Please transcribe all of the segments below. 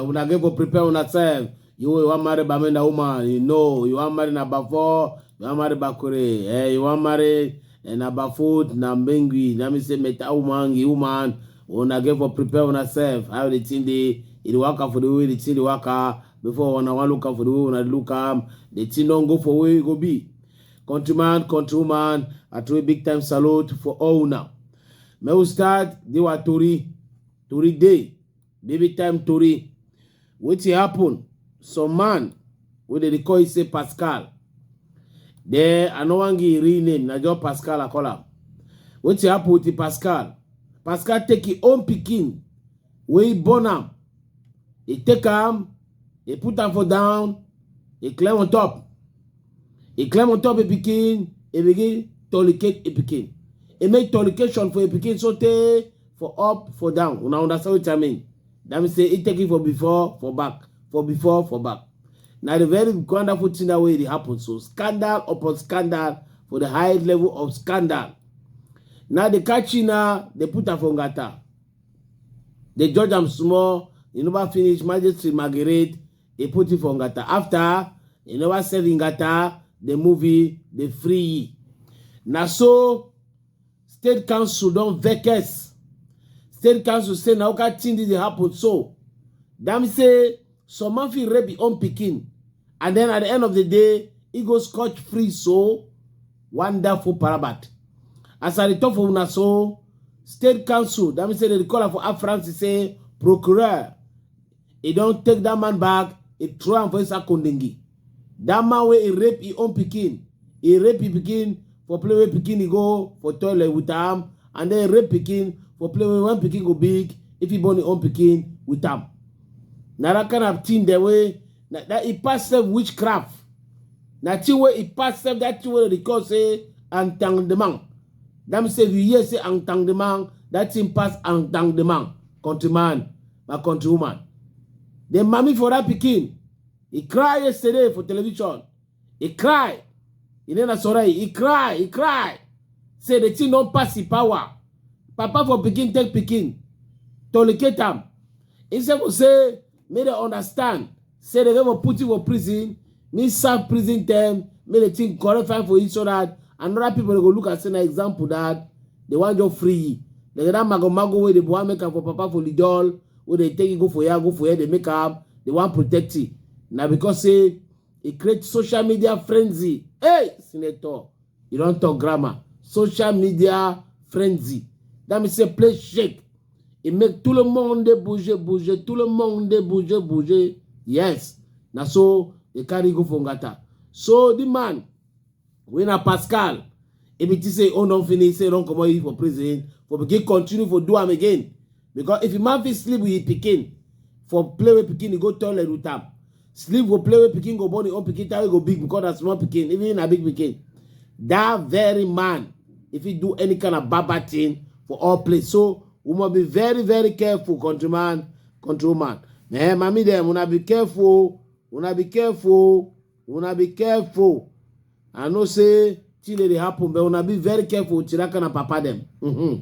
una get go prepare una self you you wan marry bamenda woman you know you wan marry na bafo you wan marry bakure eh you wan marry eh, na bafut na mbengui na me say meta woman gi woman una get for prepare una self how the thing dey e dey waka for the way the thing dey waka before una wan look am for the way una look am the thing don go for where e go be countryman countrywoman i throw a big time salute for all una make we start the wa tori tori dey baby time tori wetin happen some man wey dem dey call e say pascal then i no wan give im real name na just pascal i call am wetin happen with the pascal pascal take im own pikin wey he burn am, he take am, he put am for down, he climb on top. He climb on top a pikin, he begin tolicate a pikin. He make tolication for a pikin so tey for up, for down. Una understand wetin I mean? That means say he take it for before, for back, for before, for back. Na the very wonderful thing that way dey happen. So scandal upon scandal for the high level of scandal. Now the catchy now they put am for ngata. They judge am small, e never finish, magistrate Margaret, e put him for Ngata. After, e never serve Ngata, the movie, the free. Na so, state council don vex. State council say na oka thing dey happen so. Dem say some man fit rape his own pikin and then at the end of the day, he go scotch free so. Wonderful parabat. As I talk for una so, state council, that means say they call am for Air France, he say, procureur, he don take that man back, he throw am for inside Kondingi. That man wey he rape his own pikin, he rape his pikin for play wey pikin he go for toilet with am, and then rape pikin for play wey when pikin go big, if he born his own pikin with am. Na that kind of thing dem wey na that e pass sef witchcraft na thing wey e pass sef that thing wey dem dey call say entanglement that mean say if you hear say entanglement that thing pass entanglement countryman my countrywoman the mami for that pikin he cry yesterday for television he cry he name na sorai he cry he cry say the thing don pass him power papa for pikin take pikin tolicate am instead of say make dem understand say dem go put you for prison me serve prison term make the thing correct fine for you so that another people go look and say na example that they wan just free you like that mago mago wey dey wan make am for papa for lidol wey dey take you go for here go for here dey make am dey wan protect you na because say e create social media frenzy hey senator You don talk grammar. Social media frenzy. That means say play shake. It make tout le monde bouger, bouger, tout le monde bouger, bouger. Yes. Na so they carry go for Ngata. So the man, when a Pascal, if it is say, oh, don't finish, say, don't come out for prison, for begin continue for do am again. because if a man fit sleep with his pikin for play with pikin he go toilet with am sleep go play with pikin go born him own pikin time go big because na small pikin even na big pikin that very man if he do any kind of baba thing for all place so we must be very very careful countryman control man eh mami dem una be careful una be careful una be careful i know say thing dey happen but una be very careful with tiraka na papa dem. Mm -hmm.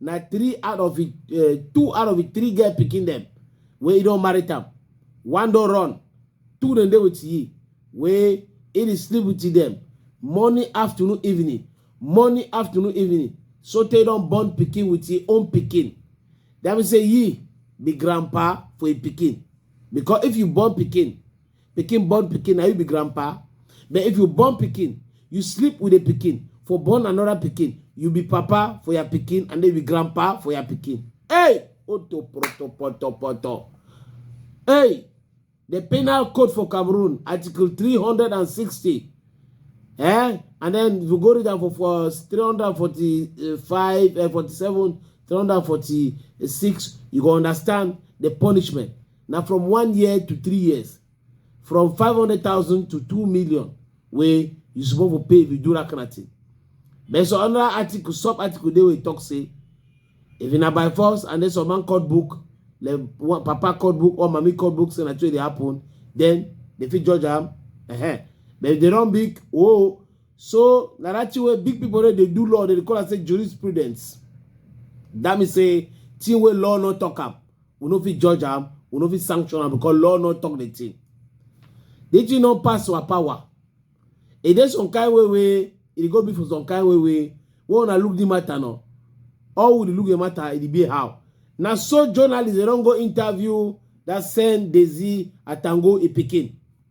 na three out of it uh, two out of it three girl picking them. Where you don't marry them, one don't run two dem dey with ye. Where it is sleep with them. morning afternoon evening morning afternoon evening so they don't born picking with ye own picking. That mean say ye be grandpa for a picking because if you born picking. Pikin born pikin, now you be grandpa. But if you born pikin, you sleep with a pikin. For born another pikin, you be papa for your pikin and then you be grandpa for your pikin. Hey! Oto proto poto poto. Hey! The penal code for Cameroon, Article 360. Eh? And then you go read that for, for 345, uh, 47, 346, you go understand the punishment. na from one year to three years from five hundred thousand to two million wey you suppose for pay if you do that kind of thing but some other article sub article dey wey talk say if na by force and then some man code book like one papa code book or mami code book say na trade dey happen then they fit judge am uh -huh. but if they don big oh so na that thing wey big people wey dey do law dey call am say jurisprudence that mean say thing wey law no talk am we no fit judge am we no fit sanction am because law no talk the thing the thing no pass our power e dey some kind way wey e go be for some kind way wey wey una look the matter no all we dey look the matter e dey be how na so journalists dey don go interview that send Daisy Atango e pikin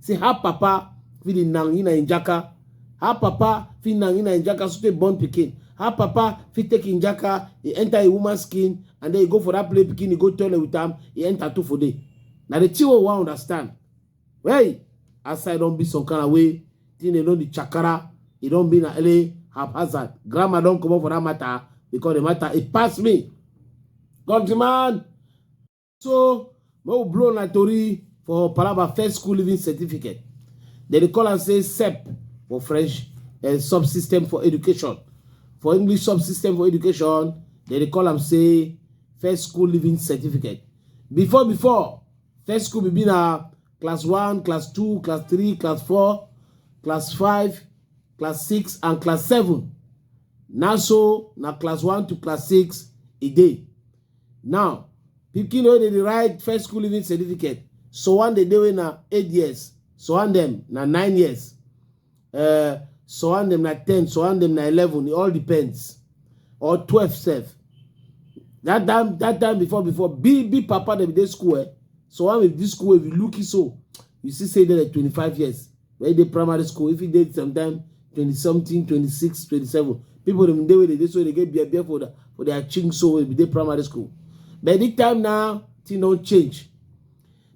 say her papa fit dey nangi na im jaka her papa fit nangi na im jaka so tey born pikin her papa fit take im jaka e enter a woman skin and then e go for that play pikin e go toilet with am e enter two for day na the thing wey we wan understand hey aside don be some kind of way thing dey don dey chakara e don be na ele haphazard grammar don comot for that matter because the matter e pass me countryman So, make we blow na tori for Palaba first school living certificate. Dem dey call am say SEP for French, uh, subsystem for education. For English subsystem for education, dem dey call am say first school living certificate. Before before, first school be be na class one, class two, class three, class four, class five, class six, and class seven. Na so na class one to class six e dey. Now, pikin wey dey write first school leaving certificate, so one dey dey wey na eight years, so one dem na nine years, uh, so one dem na ten, so one dem na eleven, it all depends. Or twelve self. That time, that time before, before, big, big papa dem dey school, eh? So one with this school, if you look it so, you see say they're like 25 years. when you dey primary school if you dey sometime twenty something twenty six twenty seven people dem dey wey dey dey so dey get beer beer for the, for their chink so wey be dey primary school but this time now thing don change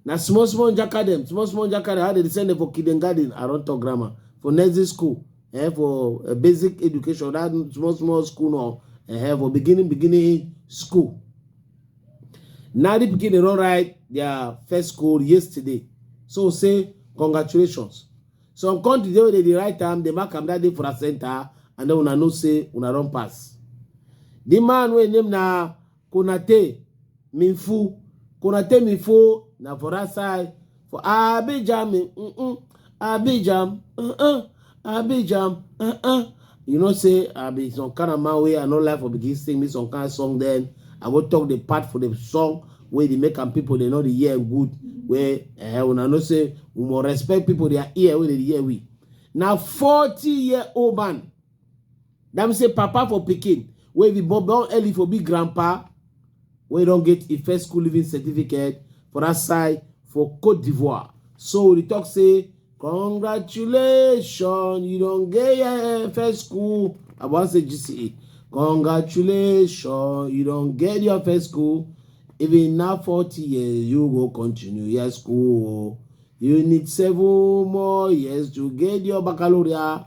na small small njaka dem small small njaka dem how dem dey send dem for kindergarten around top grammar for nursery school eh, for uh, basic education that small small school no eh, for beginning beginning school na the pikin dey run ride their first goal yesterday so say congratulations some country dey wey dey dey write am dey mark am that day for a center and then una know say una don pass the man wey name na konate minfu konate minfu na for that side For Abidjan, me, mm -mm. Abidjan, uh -uh. Abidjan, uh -uh. You know, say, I be some kind of man way, I know life will begin sing me some kind of song then. I will talk the part for the song where they make and people, they know the year good. Where, uh, when I know say, we more respect people, their ear, where they hear we. Now, 40 year old man, That means say papa for pikin wey be born born early for be grandpa wey don get a first school living certificate for that side for Cote d'Ivoire. So we talk say congratulations you don get your first school I wan say GCE. Congratulations you don get your first school even na forty years you go continue your school. You need seven more years to get your baccalaureate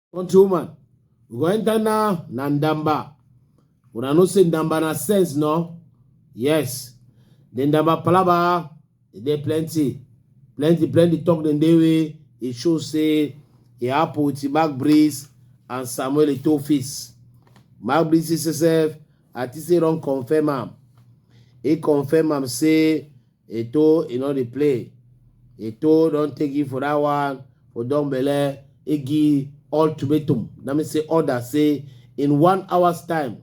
Country woman, we go enter now na Ndamba. Una know say Ndamba na sense, no? Yes. The Ndamba palaba, e dey plenty. Plenty, plenty talk dem dey way. E show say e happen with Mark Breeze and Samuel Eto'o face. Mark Breeze himself, I think say don confirm am. He confirm am say Eto'o e no dey play. Eto'o don take you for that one for don belle igi ultimatum na me say order say in one hours time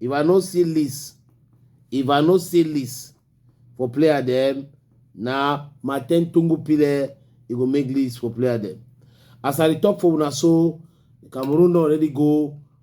if I no see list if I no see list for player dem na Martin Tungu Pile e go make list for player dem. As I dey talk for una so Cameroon don already go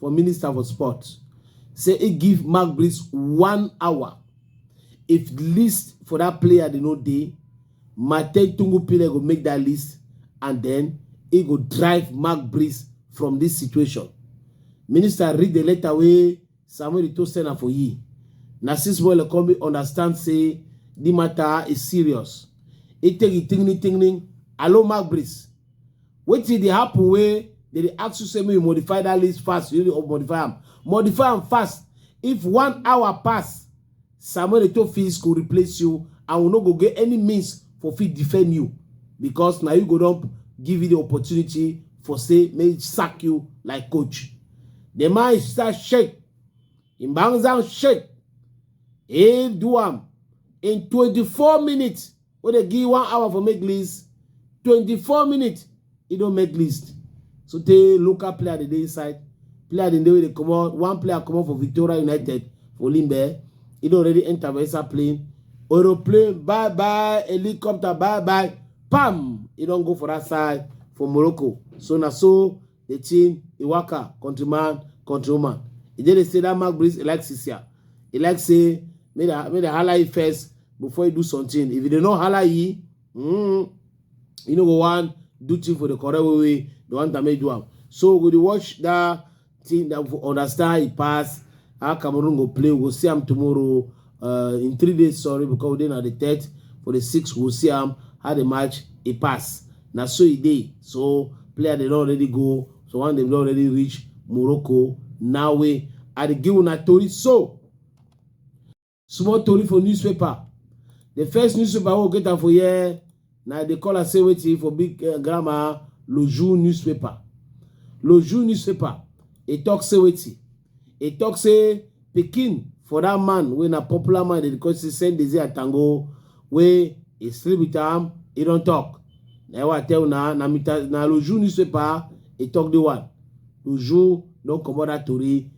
for Minister for Sport say he give Magbrits one hour. If list for that player they no dey, Matei Tungu Pile go make that list and then he go drive Magbrits from this situation. Minister read the letter wey Samuel Ito send am for ye. Na since Wele come understand say the matter is serious. He take it tingling tingling. Hello Magbrits. Wetin dey happen wey dem dey ask you say make you modify that list fast, you dey modify am. Modify am fast. If one hour pass, Samuel Eto'o Fils go replace you and we no go get any means for fit defend you because na you go don give you the opportunity for say make you sack you like coach. The man is start shake. Him bangs am shake. He do am in 24 minutes. wey dey give one hour for make list twenty-four minutes e don make list so tey local player dey dey inside player dey wey dey comot one player comot for victoria united for limbe e don already enter for inside plane aeroplane bye bye helicopter bye bye pam e don go for that side for morocco so na so the thing e waka countryman countrywoman e dey dey say that mark breeze e like sisia e like say make dem make dem hala e first before e do something if e dey no hala e mm, e no go wan do thing for the correct way wey the one time make e do am so we go dey watch that thing that we go understand e pass how cameroon go play we go see am tomorrow uh, in three days sorry because we dey na the third for the sixth we we'll see am how the match e pass na so e dey so player dey don already go so one dem don already reach morocco now we i dey give una tori so small tori for newspaper the first newspaper wey we get am for here Now they dey call am say wetin for big uh, grammar Loju newspaper. Loju newspaper He talk say wetin He talk say pikin for that man when a popular man dey call say send Dezi Atango wey he sleep with am he don't talk. Now what I tell now na Loju newspaper He talk the one. Loju don't come out that tori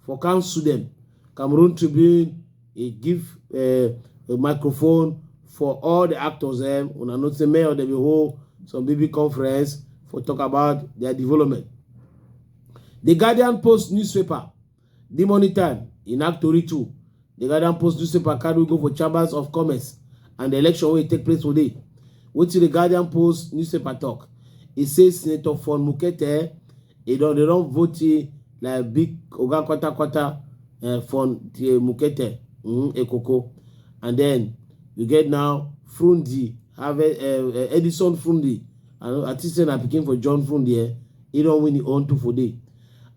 for council dem cameroon tribune e give uh, a microphone for all the actors dem um, una know say mayor dem bin hold some big big conference for talk about their development the guardian post newspaper the morning time in act tori too The Guardian Post newspaper carry go for chambers of commerce and the election wey take place today. Wetin the Guardian Post newspaper talk? E say Senator Fon Mukete e don dey don vote like big oga kwata kwata uh, Fon uh, Mukete mm, Ekoko, and then you get now Frundi Harvest uh, uh, Edison Frundi. I, I think say na pikin for John Frundi. Eh? He don win his own two for day.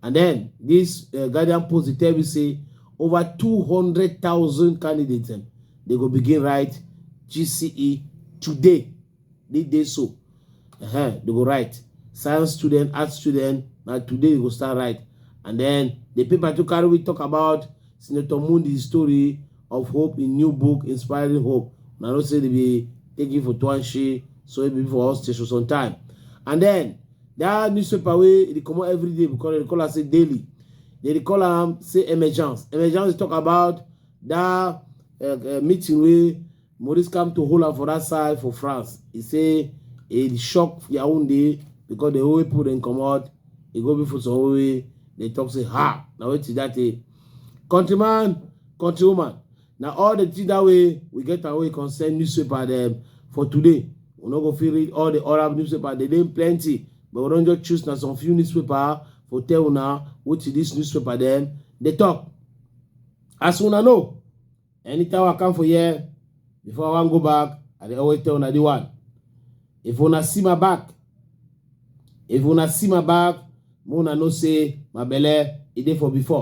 And then this uh, Guardian Post dey tell me say over 200,000 candidates dem they go begin write GCE today they dey so uh -huh, they go write science student art student na today they go start write and then the paper to carry we talk about Senator Mundi's story of hope in new book inspiring hope na no say they be taking for Tuanshi so it be for us station sometime and then that newspaper wey e dey comot every day because dem dey call am say daily They dey call am say emergence. Emergence talk about that uh, uh, meeting wey Maurice come to hold am for that side for France. He say e shock Yaoundé because the whole people dem comot. E go be for some way. They talk say ha na wetin that day. Countryman, countrywoman, na all the things that way we get away concern newspaper dem for today we no go fit read all the arab newspaper dey dey plenty but we don just choose na some few newspaper for tell una wetin this newspaper dem dey talk as una know anytime i come for here before i wan go back i dey always tell una the one if una see my back if una see my back make una know say my belle e dey for before